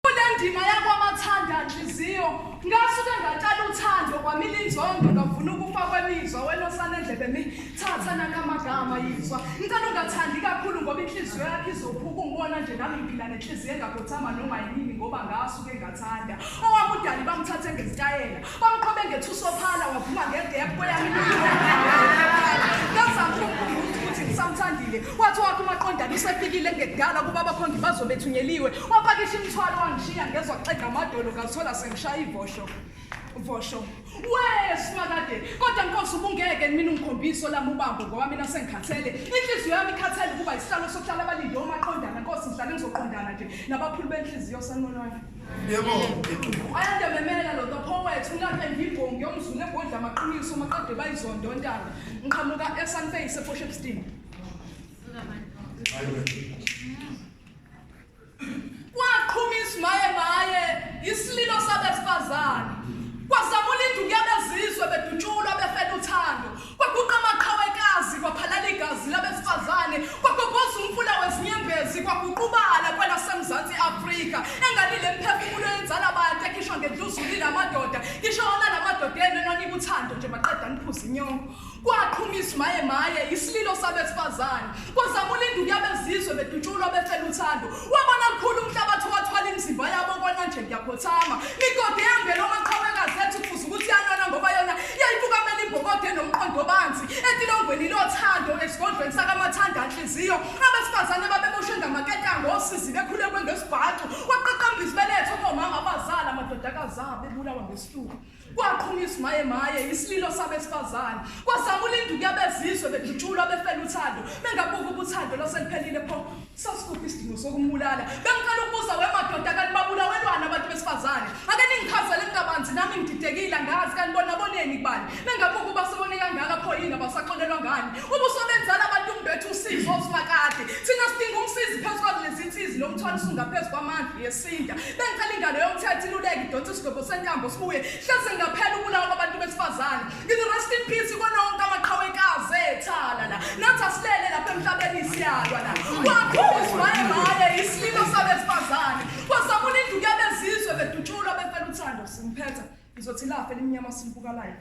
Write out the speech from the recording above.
Kulendima yakwamathanda nhliziyo ngasuke ngaqala uthando kwamile inzondo ngavuna ukufa kwemizwa wena osane ndlebe mi thatha nakamagama yizwa ngicela ungathandi kakhulu ngoba inhliziyo yakhe izophuka ungibona nje nami ngiphila nenhliziyo engakhothama noma yini ngoba ngasuke ngathanda owakudali bamthathe ngezitayela Bamqhobe ngethuso ophala wavuma ngedepho kweyami ngazama ukumkhumbuza ukuthi ngisamthandile wathi wakho umaqondana usefikile ngekudala kuba abakhongi bazo bethunyeliwe wapakisha imithwalo wangishiya ngezwa kuxega amadolo ngazithola sengishaya ivosho vosho we simakade kodwa nkosi ubungeke mina ungikhombise olami ubambo ngoba mina sengikhathele inhliziyo yami ikhathele ukuba isihlalo sokuhlala abalinde omaqondana nkosi ngihlale ngizoqondana nje nabaphuli benhliziyo sanonwami Yebo. Ayanda memela lo topho wethu ngakhe ngibongi ngiyomzula egodla amaqiniso maqede bayizondo ntanga. Ngiqhamuka eSunface eFoshepstein. Kwaqhuma isimaye maye isililo sabesifazane. Kwazamula induku yabezizwe bedutshulwa befela uthando. Kwaguqa amaqhawe ekazi, kwaphalala igazi labesifazane, kwagobhoza umfula wezinyembezi, kwaguqubala kwelaseMzansi Afrika. Engani le mphefumulo yenzala abantu ekhishwa ngendluzuli lamadoda, ngisho wona lamadoda enu enonika uthando nje maqeda niphuza inyongo. Kwaqhuma izimayemaye, isililo sabesifazane. Kwazama ulinda ukuya bezizwe bedutshulwa befela uthando. Wabona mkhulu umhlabathi wathwala imizimba yabo kona nje ngiyakhothama. Migodi ehambela omaqhawekazi ethi kufuze ukuthi yanona ngoba yona yayifukamela imbokode nomqondo obanzi etilongweni lothando esigodlweni sakamathanda anhliziyo. Abesifazane babeboshwe ngamaketango osizi bekhulekwe ngesibhaxu. Waqaqamba izibeletho komama abazala amadodakazi abo ebulawa ngesifuba. kwaqhuma izimaye maye isililo sabesifazane kwazama ulinda ukuyabezizwe bedutshulwa befela uthando bengabuka ubuthando lwaseliphelile pho sasikuphi isidingo sokumbulala bengicela ukubuza wemadoda kanti babulawelwana abantu besifazane ake ningichazele mntabanzi nami ngididekile angazi kanti bona boneni kubani bengabuka uba sebone kangaka pho yini abasaxolelwa ngani ubuso benzala abantu umbethu usizo osimakade thina sidinga umsizi phezu kwalezi nsizi lo mthwalo usungaphezu kwamandla sinda bengicela ingalo yomthetho iluleke idonsa isigobho sentambo sibuye hlase ngaphela ukulawa kwabantu besifazane ngithi rest in peace kona wonke amaqhawekazi ethala la nathi asilele lapha emhlabeni isiyalwa la waphuzwaye maye isililo sabesifazane kwasamula indlu yabezizwe bedutshulwa befela uthando simphetha ngizothi lafe elimnyama silibukalayo